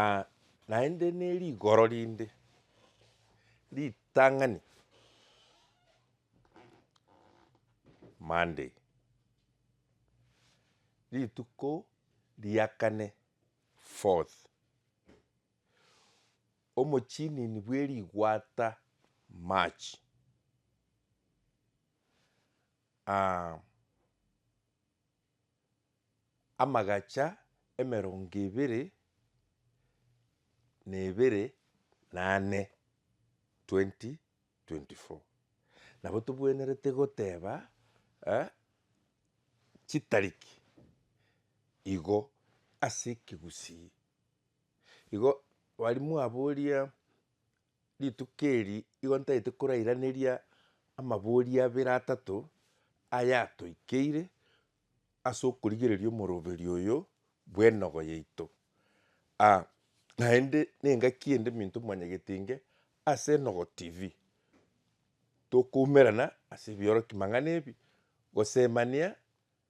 Aa, naende ne rigoro rinde ritang'ani Monday, rituko ria kane fourth, omochinini bwe rigwata March, aa. Amagacha emerongo ebere na ebere na ane, 2024. Nabo tobwenerete goteba chitariki igo ase ekegusii. Igo bari mwaboria. Rituko eri igo ntagete korairaneria amabori abere atato aya atoikeire ase okorigereria omoroberi oyo bw'enogo yaito. Ah, naende nengaki ende minto mwanyagetinge ase Enogo TV. Tokoumerana ase ebioroki mang'ana ebi, gosemania.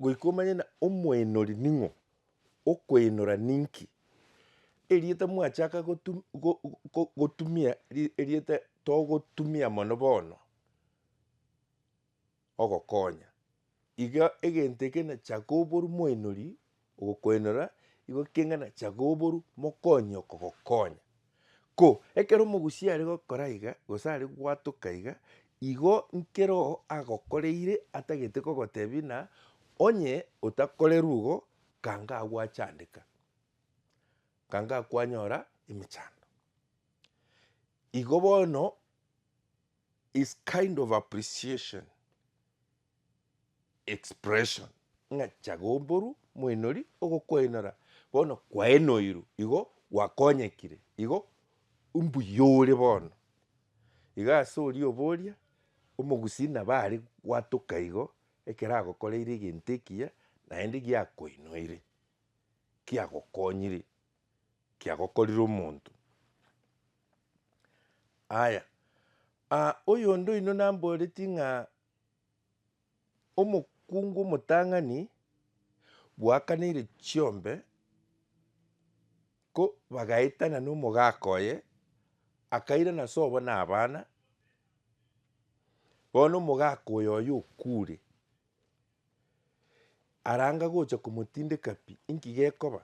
Goika omanye na omwenori ning'o, okwenora ninki. Erieta mwachaka gotu go- go- gotumia ri- erieta togotumia mono bono, ogokonya. Iga egento eke na chaka oboru mwenori, ogokwenora, igo keng'ana chaka oboru mokonyi okogokonya. Ko ekero omogusii are gokora iga, gose are gwatoka iga, igo nkero agokoreire atagete kogotebia na onye otakorerwe igo kanga agwachandeka, kanga kwanyora emechando. Igo bono is kind of appreciation. expression, ng'a chago'mboru moinori ogokwainora bono kwainoirwe igo gwakonyekire igo mbuya ore bono. Iga ase oria oboria omogusii nabo are gwatoka igo ekero agokoreire egento ekiya naende giakoinoire, kiagokonyire, kiagokorire omonto. Aya oyonde oino namboretie ng'a. Omokungu omotang'ani bwakaneire chiombe ko bagaetana nomogaka oye, akairana sobo na abana, bono omogaka oyo oye okure, aranga gocha komotindeka pi, inki gekoba?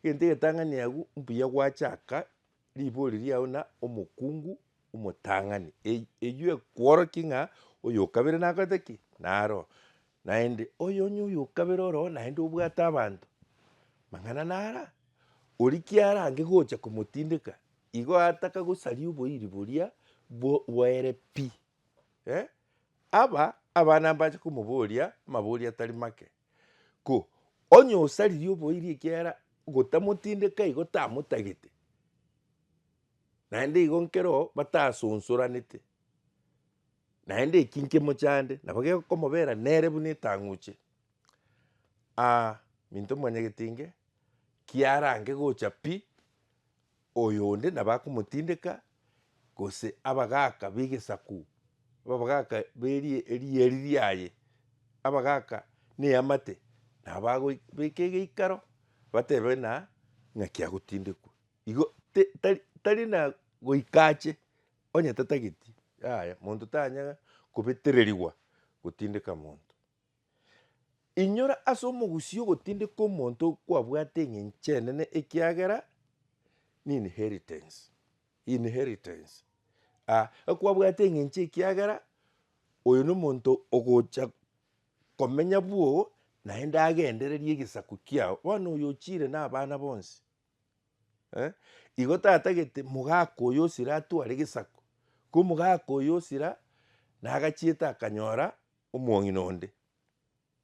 Egento egetang'ani agwo mbuya gwachaka Ribori riao na omokungu omotang'ani. Eyio ekworokia ng'a oyokabere nakorete ki? Naro. Naende oyo onye oyokabere oroo naende obwate abanto mang'ana nara oria kiarange gocha komotindeka igo ataka gosaria oboiri boria bwaere pi. Aba abana mbache komoboria amabori atari make. Ko, onye osaririe oboiri ekiagera gotamotindeka igo tamotagete, naende igo nkero batasonsoranete, naende eki nkemochande nabo gekomobera nere buna etang'uche. Aa minto mwanyagetenge kiarange gocha pi. Oyonde nabakomotindeka, gose abagaaka b'egesaku, abagaaka b'erieri riaye, abagaaka n'eamate, nabo bagobeka egeikaro, batebe ng'a ng'aki agotindekwa. Igo tari na goika ache onye tatageti, yaya, monto tanyara kobetererigwa gotindeka monto. Inyora ase omogusii ogotindeka omonto kwabwate eng'encho enene ekiagera n'inheritance, inheritance. Ah, ekwabwate eng'encho ekiagera oyo nomonto ogocha komenya bwogo naende agendererie egesaku kiao. Bono oyo ochire nabana bonsi. eh, igo tatagete mogaka oyo osira atware gesaku, ko omogaka oyo osira nagachiete akanyora omong'ina onde,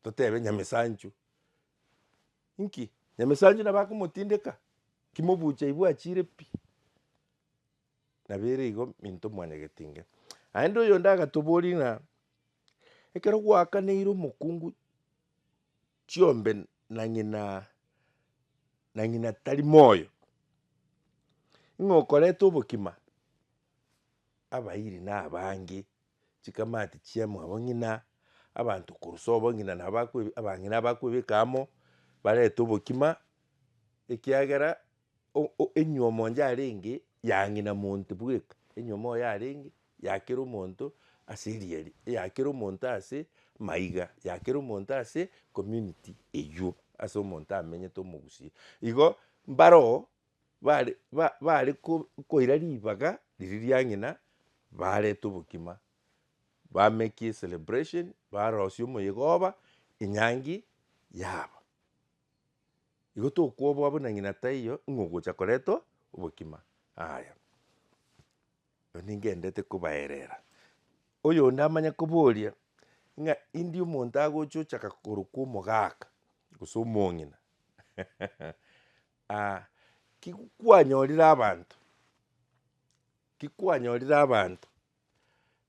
totebe nyamesanchu. Inki? Nyamesanchu nabo akomotindeka? Ki mobucha aye bwachire pi? Nabo ere igo minto mwanyagete inga. Naende oyonde agatoboria ng'a ekero gwakaneire omokungu. chiombe na ng'ina na ng'ina tari moyo, ng'a okoreta obokima abairi na abange, chikamati chiamo abo ng'ina, abanto korusia obo ng'ina nabo bakwe abang'ina bakwebeka amo, barete obokima ekiagera. O- o- enyuomo onde arenge yang'ina monto bweka enyuomo oyo yarenge yakera omonto ase erieri eyakera omonto ase maiga yakera omonto ase community eywo ase omonto amenyete omogusia igo mbaro oo bare ba bare ko- koira ribaga riria riang'ina bareta obokima bamekie celebration barosia omoyegoba enyangi yabo. Igo tokoboa buna ng'ina taiyo ng'a ogocha koretwa obokima. Aya, aya ningenderete kobaerera. Oyonde amanye koboria ng'a indie omonto agocha ochaka korokwa omogaka gose omong'ina ah ki kwanyorire abanto, ki kwanyorire abanto.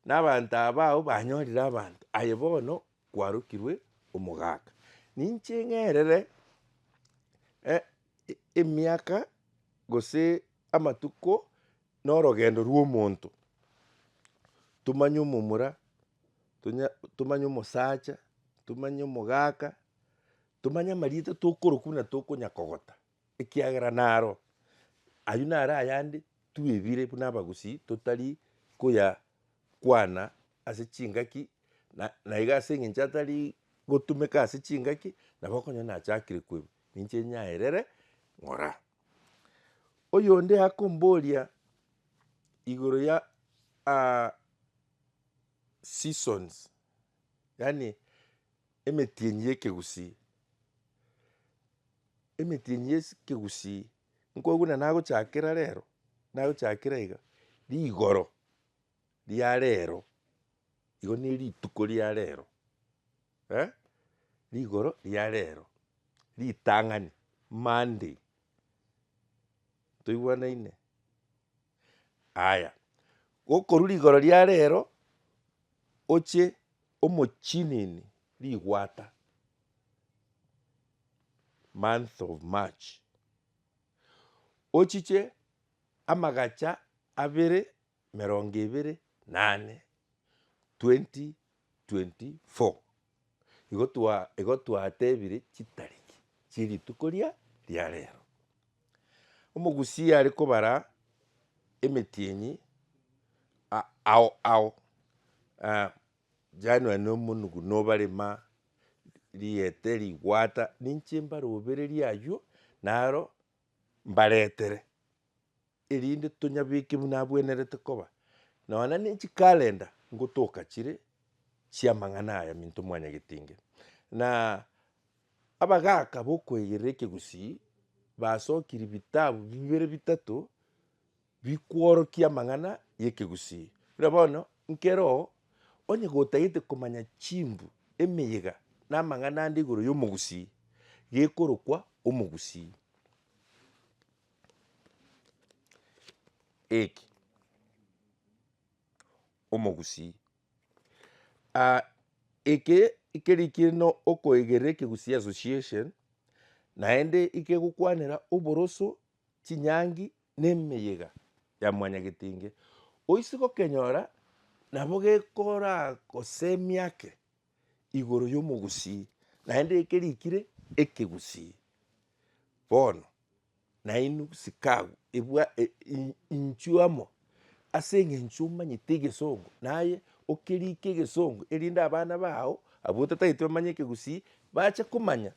Na abanto abao banyorire abanto, aye bono kwarokirwe omogaka. Ninche ng'erere eh, e- emiaka gose amatuko na orogendo rwa omonto, tomanye omomura, tonya- tomanye omosacha, tomanye omogaka, tomanye amarieta tokorokwa buna tokonya kogota. Ekiagera naro, ayio naro ayande twebire buna abagusii totari koya kwana ase chingaki na naiga ase eng'encho atari gotumeka ase chingaki nabo okonyora nachakire koirwa ninche nyaerere ng'ora. Oyonde akomboria igoro ya seasons yaani Emetienyi y'ekegusii. Emetienyi y'ekegusii nko buna nagochakera rero, nagochakera iga, rigoro ria rero, igo ne rituko ria rero, eh, rigoro ria rero, ritang'ani, monday, toigwanaine. Aya, gokorwa rigoro ria rero oche omochinini rigwata, month of March, ochiche amagacha abere emerongo ebere na ane, 2024. Igo twatebire chitariki chie rituko ria riarero. Omogusii are kobara emetienyi ao ao, January na omonugu nobare ma riete, rigwata, ninche mbarobererie aywo naro mbaretere. erinde tonyabeke buna abwenerete koba, nonya ne chikalenda ngotoka chire chi'amang'ana aya minto mwanyagete inge. Na abagaaka b'okoegerera ekegusii basokirie bitabu bibere bitato bikworokia amang'ana y'ekegusii. Buna bono nkero oo, onye gotagete komanya chimbu, emeyega, na amang'ana ande igoro y'omogusii, gekorokwa omogusii. Eki, omogusii ah eke ekerikie no okoegera ekegusii association, naende ikegokwanera oboroso, chinyangi, na emeyega ya mwanyagetinge. Oise gokenyora nabo gekoragosemia ake. igoro yomogusii, naende eke rikire ekegusii. Bono nainwe sikagu ebwa e- i- inchuo amo ase eng'encho omanyete egesongo, naye okerike egesongo erinde abana bago abwo otatagete bamanye ekegusii, bache komanya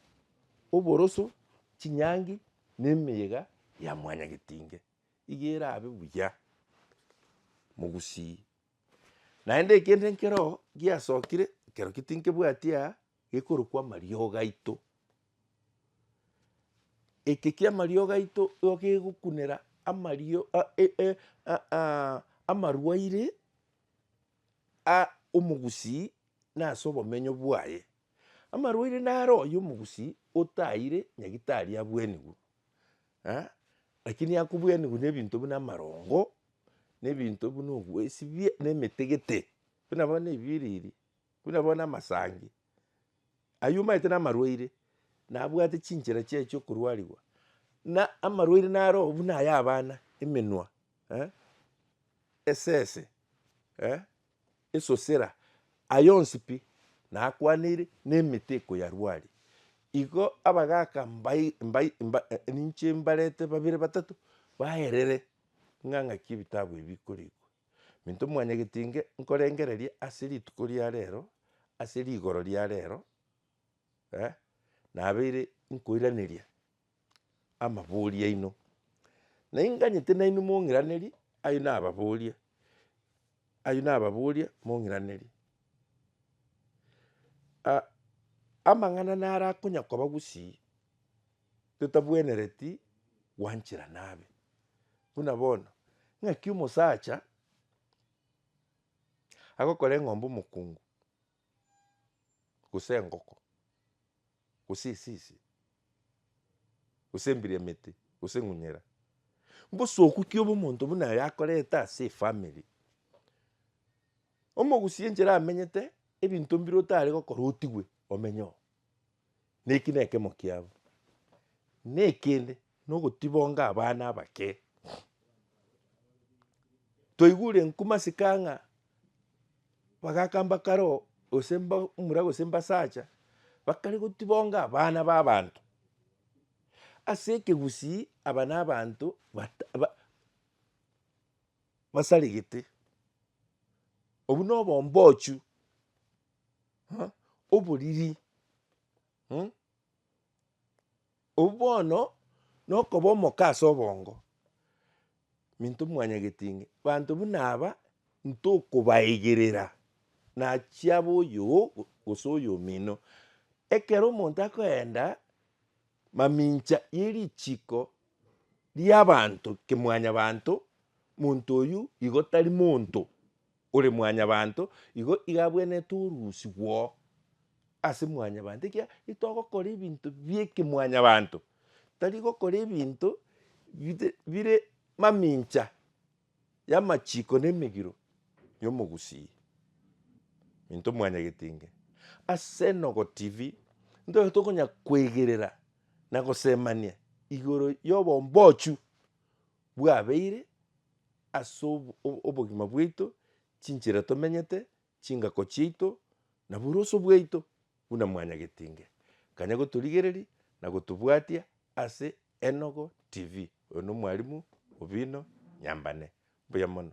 oboroso, chinyangi, na emeyega ya mwanyagetinge. Iga erabe buya mogusii. Naende ekende nkero giasokire, ekero ki tinkebwati aa, gekorokwa amariogo aito. Eke kia amariogo aito igo kegokunera amario a- e- e- a- a- amarwaire a- omogusii na ase obomenyo bwaye. Amarwaire naro oyio omogusii otaeire nyagitari abwenigwe. Lakini akobwenerwe nebinto buna amarongo, ne ebinto buna obwesibie, ne emetegete, buna bono ebiriri, buna bono amasangi, ayio omanyete namarwaire, nabwate chinchera chiaye chia okorwarigwa, na amarwaire naro oo buna aya abana, emenwa, esese. esosera aye onsi pi, na akwaneire, na emete ekoyarwaria. Igo abagaaka mbai mbai mba ninche mbarete babere batato baerere ng'a ng'aki ebitabu ebi bikorikwa. Minto mwanyagete inge nkorengereria ase rituko ria rero, ase rigoro ria rero, nabeire nkoiraneria. amabori aino, na inganyete nainwe mong'iranerie ayio nababoria, ayio nababoria mong'iranerie. amang'ana naro akonya koba gusii totabwenereti gwanchera nabe. Buna bono, ng'aki omosacha agokora eng'ombe omokungu. gose engoko, gose esisi, gose embiro emete, gose eng'unyera. Mbosoku ki obo omonto buna aya akorete ase efamiri? Omogusie enchera amenyete, ebinto mbire otare gokora otigwe omenye oo. Neki nekemo kiabo. Nekende nogotibonga abana abake. Twaigure nkumasika ng'a bagaka mbakare oo gose mbamura gose mbasacha bakare gotibonga abana ba abanto. Ase ekegusii aba na abanto bata ba basaregete. Obwo nobombochio. oboriri mh, obwo bono nokoba omoke ase obongo, minto mwanyageti ng'a banto buna aba ntokobaegerera nachiabo oyoo gose oyo omino. Ekero omonto akoenda mamincha yerichiko riabanto kimwanyabanto, monto oyio igo tari monto. Ore mwanyabanto, igo igabwenerete oruusi gwoo ase mwanyabanto, ekiagera itogokora ebinto biekemwanyabanto, tari gokora ebinto bite bire mamincha y'amachiko na emegiro y'omogusii. Minto mwanyagetinge, ase Enogo TV, ntoe tokonya koegerera na gosemania igoro y'obombochio bwabeire. ase obogima bwaito, chinchera tomenyete, chingako chiaito, na boroso bwaito, buna mwanyagetinge kanya gotorigereria na gotobwatia ase Enogo TV. Oyo nomwarimu obino nyambane. Mbuya mono.